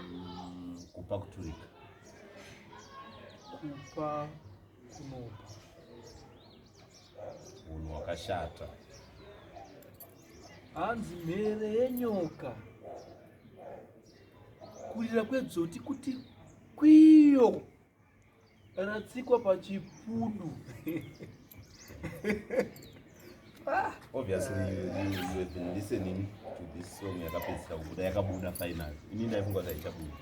Mm, kupa kuturika. Kupa kunopa. Munhu wakashata. Hanzi mhere yenyoka. Kurira kwedzoti kuti kwiyo. ratsikwa pachipudu ah, obviously you, you, you have been listening to this song yakapedzisa kubuda yakabuda final ini ndaifunga kuti haichabuda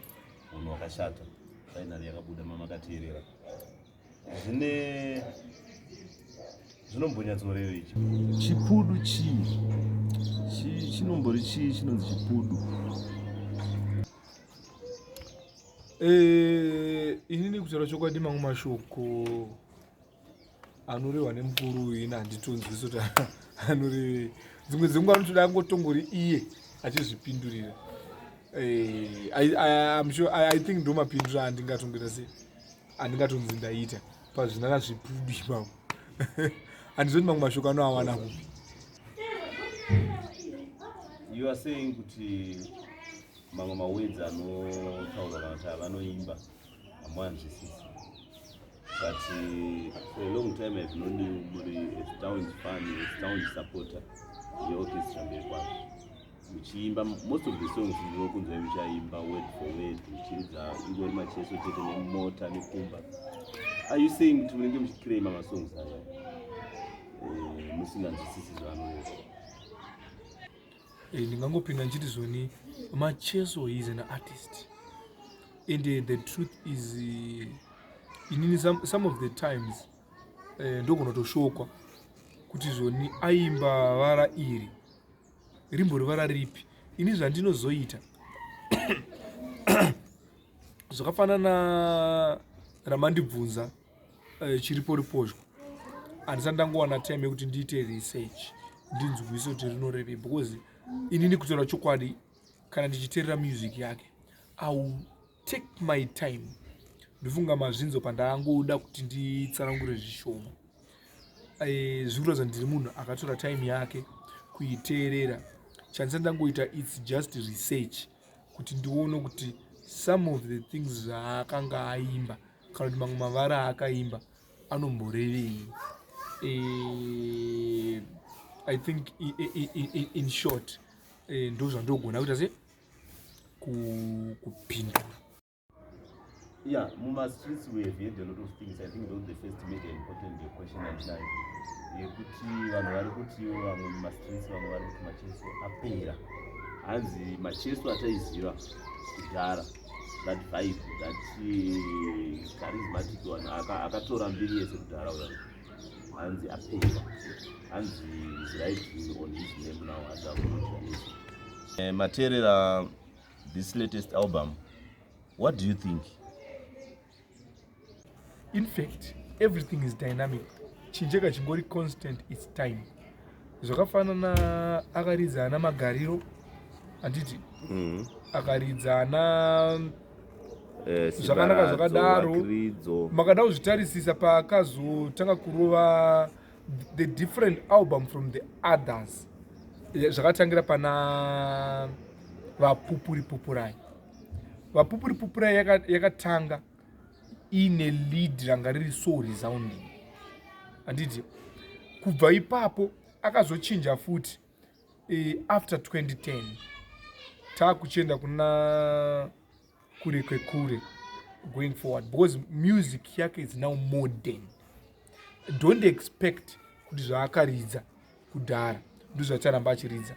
munhu wakashata final yakabuda mamakateerera zvine zvinombonyatsoreva ichi chipudu chii chinombori chii chinonzi chipudu Eh, inini kutaura chokwadi mamwe mashoko anorehwa nemukuru uyu ini handitonzwisi kuti anorevei dzimwe dzenguva anotoda angotongori iye achizvipindurira eh, i think ndo mapindura andingatongoita se andingatonzi ndaita pazvinana zvipfubi ipavo handizoti mamwe mashoko anoawana kupi you are saying kuti mamwe mawords anotaurwa kana kuti avanoimba hamuanzwisisi but eh, for a long time have known you muri astound fan astound supporter yeorchestra mberi kwazvo muchiimba most of the songs ndinokunzwai muchaimba word for word muchiridza ingori macheso chete nemota nekumba are you saying kuti munenge muchiclaima masongs aya eh, musinganzwisisi zvaanoyoo Eh, ndingangopinda ndichiti zvoni macheso is an artist and eh, the truth is eh, inini some of the times ndogona toshokwa kuti zvoni aimba vara iri rimbori vara ripi ini zvandinozoita zvakafanana ramandibvunza eh, chiripo ripozho handisati ndangowana time yekuti ndiite research ndinzwise kuti rinorevei because inini kutaura chokwadi kana ndichiterera music yake iwill take my time ndofunga mazvinzo pandaangoda kuti nditsanangure zvishoma eh, zviri kuratidza ndiri munhu akatora time yake kuiteerera chandisa ndangoita its just research kuti ndione kuti some of the things zvaakanga aimba kana kuti mamwe mavara aakaimba anomborevei eh, i think in short eh, ndozvandogona kuita se kupindura Yeah, Muma streets we have heard a lot of things. I think those the first made an important question at night. Yekuti vanhu vari kuti vamwe muma streets vamwe vari kuti macheso apera. Hanzi macheso ataiziva kudhara that vibe that eh, charismatic one akatora mbiri yese kudhara uya hanzi apera. Hanzi is right on his name now as a eh, Materera this latest album what do you think in fact everything is dynamic chinjeka chingori constant its time zvakafanana akaridza ana magariro handiti mm. akaridza ana eh, zvakanaka zvakadaro makada kuzvitarisisa paakazotanga kurova the different album from the others eh, zvakatangira pana vapupuri pupurai vapupuri pupurai yakatanga yaka iine lead ranga riri so resounding handiti kubva ipapo akazochinja futi e, after 2010 taakuchienda kuna kure kwekure going forward because music yake is now modern don't expect kuti zvaakaridza kudhara ndozvacharamba achiridza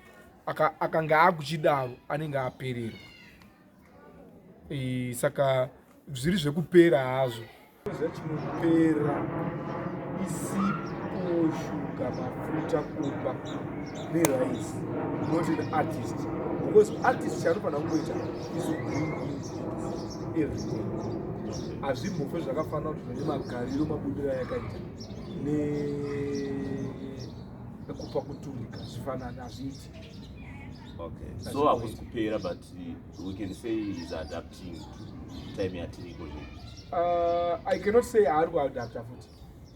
akanga akuchidaro anenge apererwa saka zviri zvekupera hazvo zvachimupera isipo shuga mafuta kumba nerice not an artist because artist chaanofanira kungoita isoeverything hazvimbofe zvakafanira kuti zvine magariro mabudiro ayakaita nekupa kutumika zvifanani hazviiti okay so hakusi kupera but we can say is adapting to time yatiriko zve uh, i cannot say ari kuadapta futi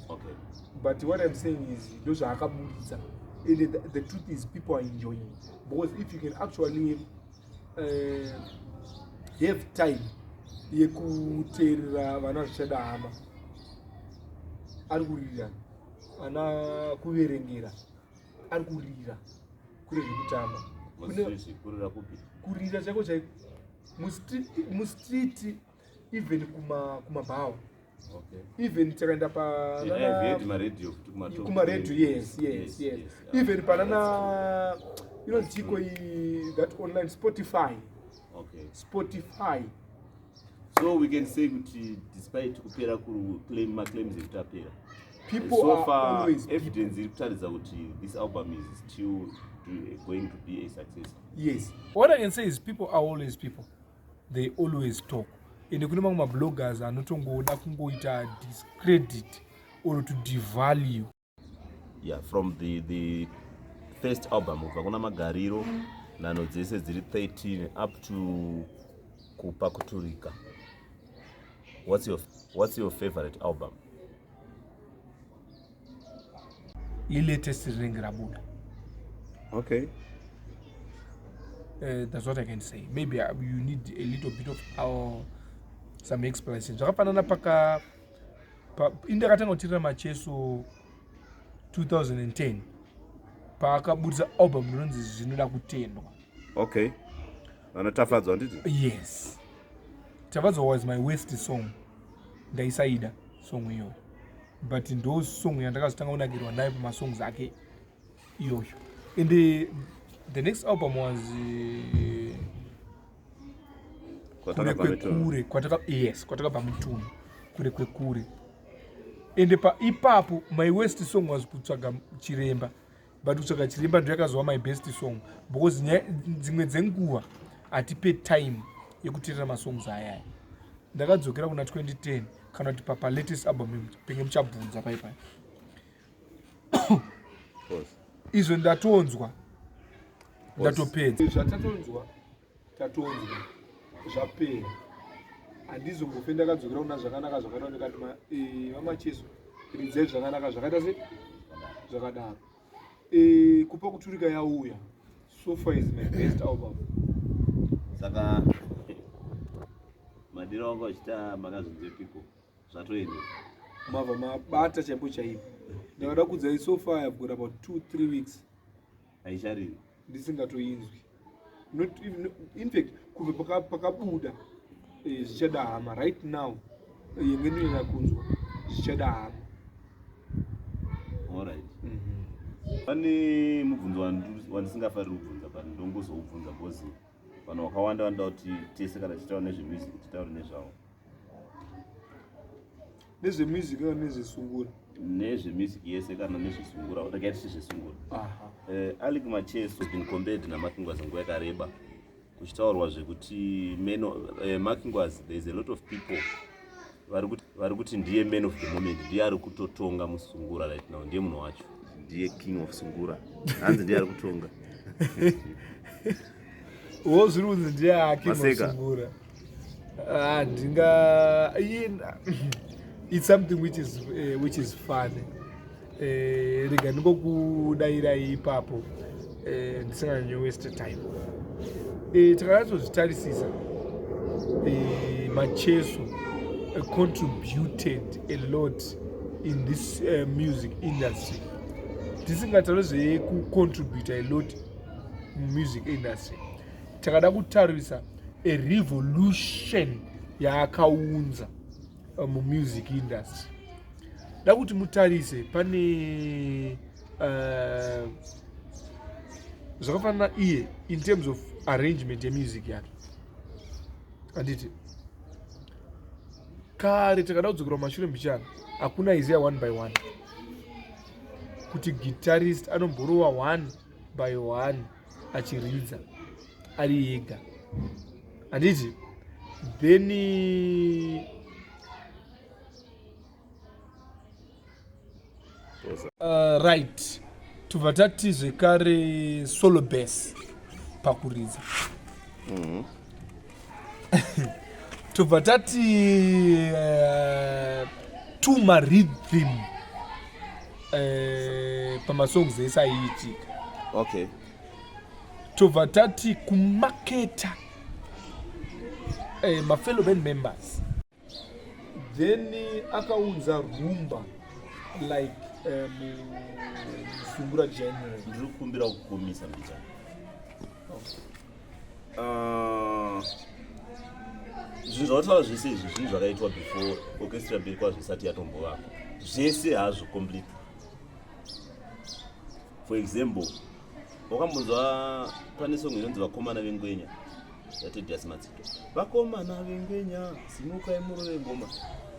okay but what i'm saying is ndo zvaakaburitsa and the, the truth is people are enjoying because if you can actually uh, have time yekuteerera vana zvichada hama ari kuririra ana kuverengera ari kurira kure zvekutamba kurira chaiko chai mustreet even kumabhawa even takaenda panakumaradio yes yes yes even panana inonziiko that online spotify spotify so we can say kuti despite kupera maclaims ekuti apera people so far, are always evidence iri kutaridza kuti this album is still going to be a success yes what i can say is people are always people they always talk ende kune mamwe mabloggers anotongoda kungoita discredit or to devalue yeah from the the first album kubva kuna magariro nano dzese dziri 13 up to kupakuturika what's your, what's your favorite album ilatest rinenge rabuda okay uh, that's what i can say maybe uh, you need a little bit of our some explanation zvakafanana paka pa, indakatanga kutirira macheso 2010 paakabudisa album rinonzi zvinoda kutendwa okay Vana Tafadzwa handiti? Yes. Tafadzwa was my worst song. Ndaisaida song iyoyo. But ndo song yandakazotanga kunakirwa nayo pama songs ake iyoyo. And the, the next album was uh, Kure kwekure kwataka yes kwataka pamutuno kure kwekure ende pa ipapo my worst song was kutsvaga chiremba but kutsvaga chiremba ndoyakazova my best song because dzimwe dzenguva hatipe time yekuterera masongs ayaya ndakadzokera kuna 2010 kana kuti papa latest album penge muchabvunza paipai izvo ndatonzwa ndatopedza zvatatonzwa tatonzwa zvapera handizombofe ndakadzokera kuna zvakanaka zvakaita ndikati eh, vamacheso ridzai zvakanaka zvakaita se zvakadaro eh, kupa kuturika yauya sofa is my best album saka madiro wangu achita makazvinze piko zvatoenda mava mabata chaipo chaipo ndakada kudzai sofa yabgora about two three weeks haichariri ndisingatoinzwi not even no- in fact kubva paka- pakabuda eh, zvichada hama right now eh, yenge ndinoda kunzwa zvichada hama alright pane mubvunzo wandu- wandisingafariri kubvunza but ndongozoubvunza because vanhu vakawanda vanoda kuti tese kana tichitaura nezvemusic titaure nezvavo nezvemusic kana nezvesungura nezvemusic yese kana nezvesungura rega tisi zvesungura eh, alic macheso been compared namakingwazi nguva yakareba kuchitaurwa zvekuti meno eh, makingwazi there is a lot of people vari kuti ndiye man of the moment ndiye ari kutotonga musungura right now ndiye munhu wacho ndiye king of sungura hanzi ndiye ari kutonga wo zviri kunzi ndiye aking of sungura Ah, ndinga it's something which is, uh, which is funny eh, rega ndingokudairai ipapo eh, ndisinganyanye waste time eh, takanatsozvitarisisa eh, macheso eh, contributed a lot in this uh, music industry tisingataure zvekucontributa a lot mumusic industry takada kutarisa a revolution yaakaunza uh, mumusic industry da kuti mutarise pane uh, zvakafanana iye in terms of arrangement yemusic yake handiti kare takada kudzokera kumashure mbichana hakuna iziya one by one kuti guitarist anomborova one by one achiridza ari ega handiti then uh, right tobva tati zvekare solo bas pakuridza mm -hmm. tobva tati uh, tuma rhythm uh, pamasongs ese aiitika okay tobva tati kumaketa uh, mafellow band members then akaunza rumba like eh, musungura january ndiri kukumbira kukomisa mbica ah, zvinhu zvavataura zvese izvi zvinhu zvakaitwa before orchestra mberi kwazvo isati yatombovako zvese hazvo complete for example wakambonzwa pane song inonzi vakomana vengwenya yatediasi madzito vakomana vengwenya simukai murove ngoma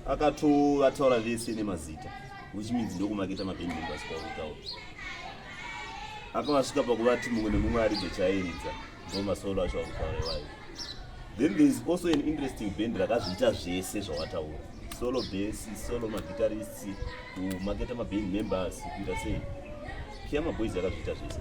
akatoataura vese nemazita which means ndokumaketa maband members kwautaura akavasvika pakuvati mumwe nemumwe aridze chairidza ndomasolo acho akutaura iwayo then there is also an interesting band rakazviita zvese zvawataura solo base solo maguitarists kumaketa maband members kuita sei kiamaboys akazviita zvese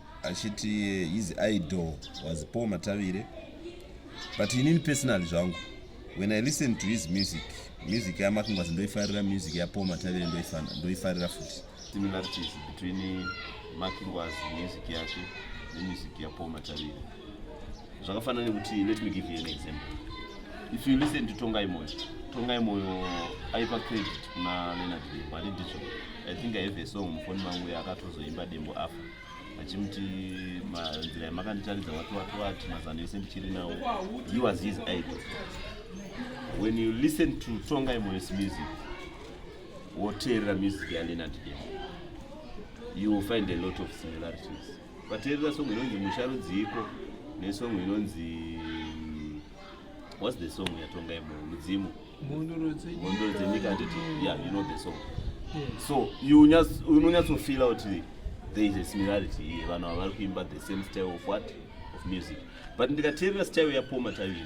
achiti his idol was paul matavire but inini personally zvangu when i listen to his music music yamakungwazi ndoifarira music yapaul matavire ndoifarira futi similarities between makingwazi music yake nemusic yapaul matavire zvakafanana nekuti let me give you an example if you listen to tongai moyo tongai moyo aipa credit kuna leonard dembo ani ndizvo i think i have a song mufoni mangu yakatozoimba dembo after achimuti nzira yamakanditaridza wati wati wati mazano ese ndichiri nawo he was his idol when you listen to tsonga imoyes music woteerera music yalenard demo you will find a lot of similarities vateerera songo inonzi musharudziiko nesongo inonzi What's the song yatonga yemo mudzimu? Mhondoro dzenyika. Mhondoro dzenyika handiti? Yeah, you know the song. Yeah. So you just you know to feel out the, there is a similarity here. Vanhu ava vari kuimba the same style of what? Of music. But ndikateerera style ya Poma Tavi,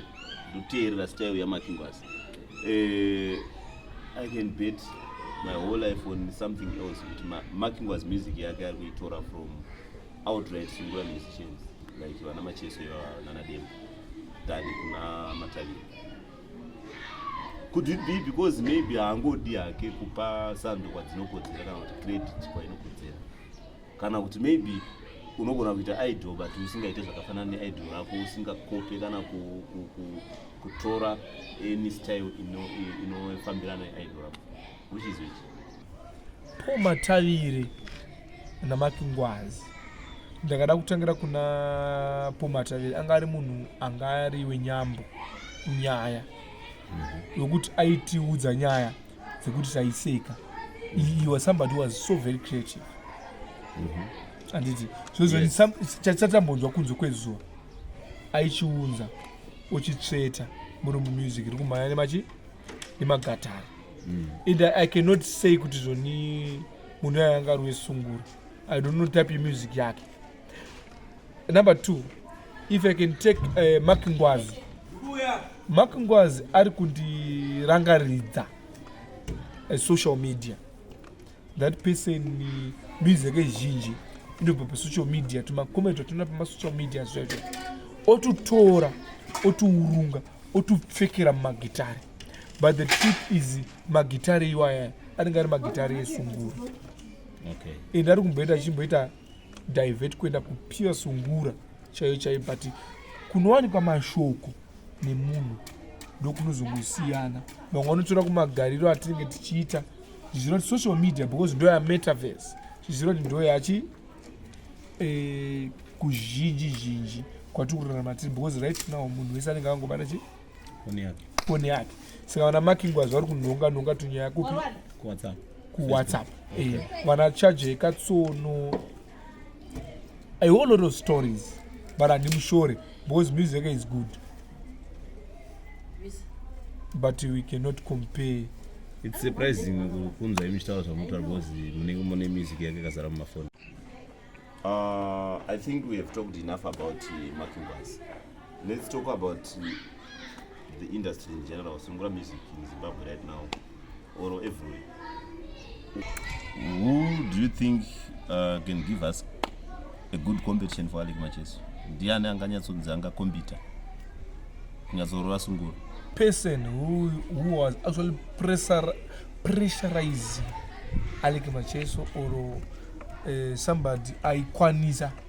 ndoteerera style ya Makingwas. Eh I can bet my whole life on something else kuti ma, Makingwas music yake ari kuitora from outright singular musicians like vana Macheso ivava nana Demba. than kuna matavira could it be because maybe haangodi hake kupa sando kwadzinokodzera kana kuti credit kwainokodzera kana kuti maybe unogona kuita idol but usingaite zvakafanana neidol rako usingakope kana kutora any style inofambirana neidol rako which is which Paul Matavire naMark Ngwazi. Ndakada kutangira kuna Paul Matavire anga ari munhu anga ari wenyambo nyaya mhm. yokuti aitiudza nyaya dzekuti taiseka. He was somebody who was so very creative. Mm -hmm handiti zvozochatichatombonzwa kunze kwezuva aichiunza uchitsveta murumu music iri kumhanya nemachi nemagatari mm. and i cannot say kuti zvoni munhu ayo anga ari wesungura i don't know type yemusic yake number two if i can take uh, mark ngwazi mark ngwazi ari kundirangaridza uh, social media that person uh, music yake zhinji inobva pasocial media tumacoment atinoona pamasocial media zvaizvo otutora otuurunga otopfekera mumagitare but the truth is magitare iwaya anenge ari magitare esungura okay. and ari kumboita achimboita divert kuenda kupure sungura chaiyo chaiyo but kunowanikwa mashoko nemunhu ndokunozongosiyana vamwe vanotora kumagariro atinenge tichiita zvichizira kuti social media because ndoya metaverse zvichizira kuti ndoyachi eh, kuzhinji zhinji kwatiri kurarama tiri because right now munhu wese anenge akangobata chi foni yake saka vana makingwazi vari kunhonga nhonga tunyaya kupi kuwhatsapp eh, vana chaje katsono i whole lot of stories but handimushore because music is good but we cannot compare it's surprising kunzwa imi chitaura zvamunotaura because munenge mune music yake kazara mumafoni uh, i think we have talked enough about uh, makimbas let's talk about uh, the industry in general sungura music in zimbabwe right now or everywhere who do you think uh, can give us a good competition for alec macheso ndiani anganyatsonzi angakombita kunyatsoroa sunguro person who, who was actually pressure, pressurizing alec macheso or uh, somebody aikwanisa uh,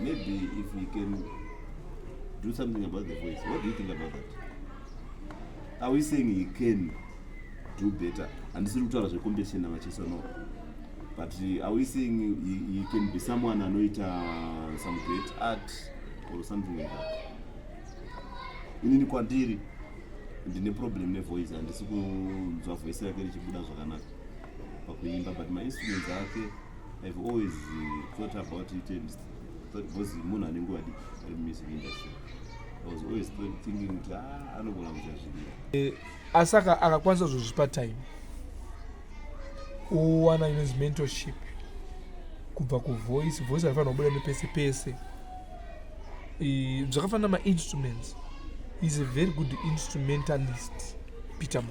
Maybe if we can do something about the voice. What do you think about that? Are we saying he can do better? And this is kutaura zve competition namacheso no. But uh, are we saying he, he can be someone anoita uh, some great art or something like that? Inini kwandiri ndine problem nevoice handisi kunzwa voice rake richibuda zvakanaka pakuimba but mainstruments ake I've always uh, thought about it and thought because munhu ane nguva diki ari mumusik industry I was always thinking kuti ah, anogona kuita zviria eh, asi akakwanisa zvozvipa time kuwana inozi mentorship kubva kuvoice voice aifanira kubuda nepese pese zvakafanira mainstruments is a very good instrumentalist peter mo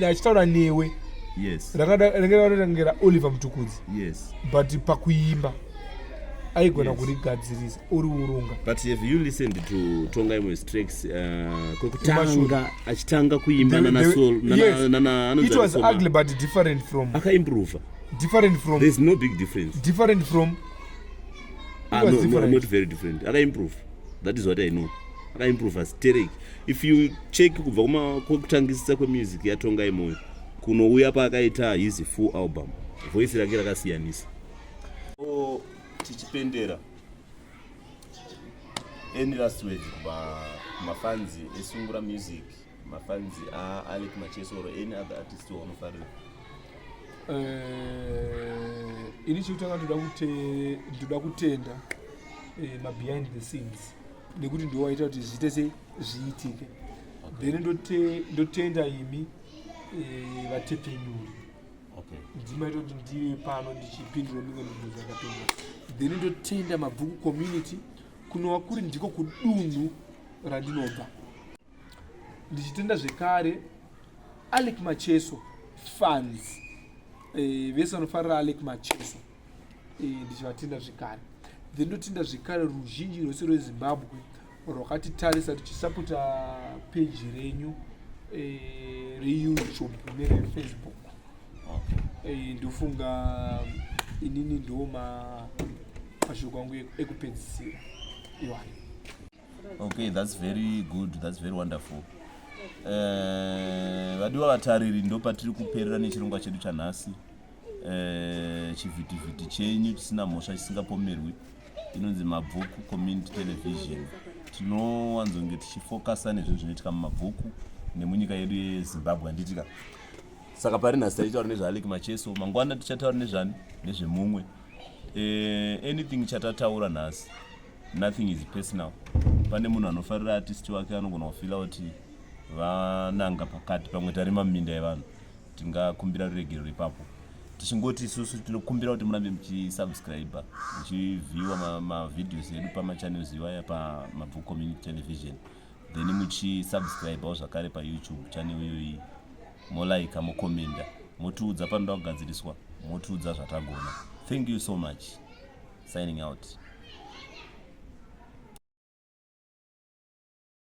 achitaura newe rangarangira oliver mutukudzi but pakuimba aigona yes. kurigadzirisa uri urunga but have you listened to tonga imwe straks uh, kwekutanga achitanga kuimba nanasolnanaanoit was ugly but different from akaimprova different from there's no big difference different from ah, no, no, not very different akaimprova that is what i know akaimprova stereki if you check kubva kumakokutangisisa kwemusic yatongai moyo kunouya paakaita his full album voice rake rakasiyanisa o tichipendera any last word kuba mafanzi esungura music mafanzi aalek machesoro any other artist waunofarira eh, ini chekutanga ndoda kutenda eh, mabehind the scenes nekuti ndiwo waita kuti zviite se zviitike then ndotenda imi eh, vatepfenyuri ndimaita kuti ndive pano ndichipindura mimwe mibvunzo yakapindwa then ndotenda mabvuku community kunova kuri ndiko kudunhu randinobva ndichitenda zvekare alec macheso fans eh, vese vanofarira alec macheso eh, ndichivatenda zvekare then ndotinda zvekare ruzhinji rwese rwezimbabwe rwakatitarisa tichisapota peji renyu eh, reyoutube nerefacebook eh, ndofunga inini ndoma mashoko angu ekupedzisira iwayo okay that's very good that's very wonderful eh, vadiwa uh, vatariri ndo patiri kuperera nechirongwa chedu chanhasi uh, chivhitivhiti chenyu chisina mhosva chisingapomerwi inonzi mabvuku community television tinowanzonge tichifokasa nezvinhu zvinoitika mumabvuku nemunyika yedu yezimbabwe handitika saka pari nhasi taitaura nezvaalek macheso mangwana tichataura nezvani nezvemumwe uh, anything chatataura nhasi nothing is personal pane munhu anofarira artist wake anogona kufila kuti vananga pakati pamwe tari maminda evanhu tingakumbira ruregerero ipapo tichingoti isusu tinokumbira kuti murambe muchisubscribe muchivhiwa mavideos edu pamachannels iwaya pamabvu community television then muchisubscribewo zvakare payoutube channel iyoyi molaika mokomenda motiudza panoda kugadziriswa motiudza zvatagona thank you so much signing out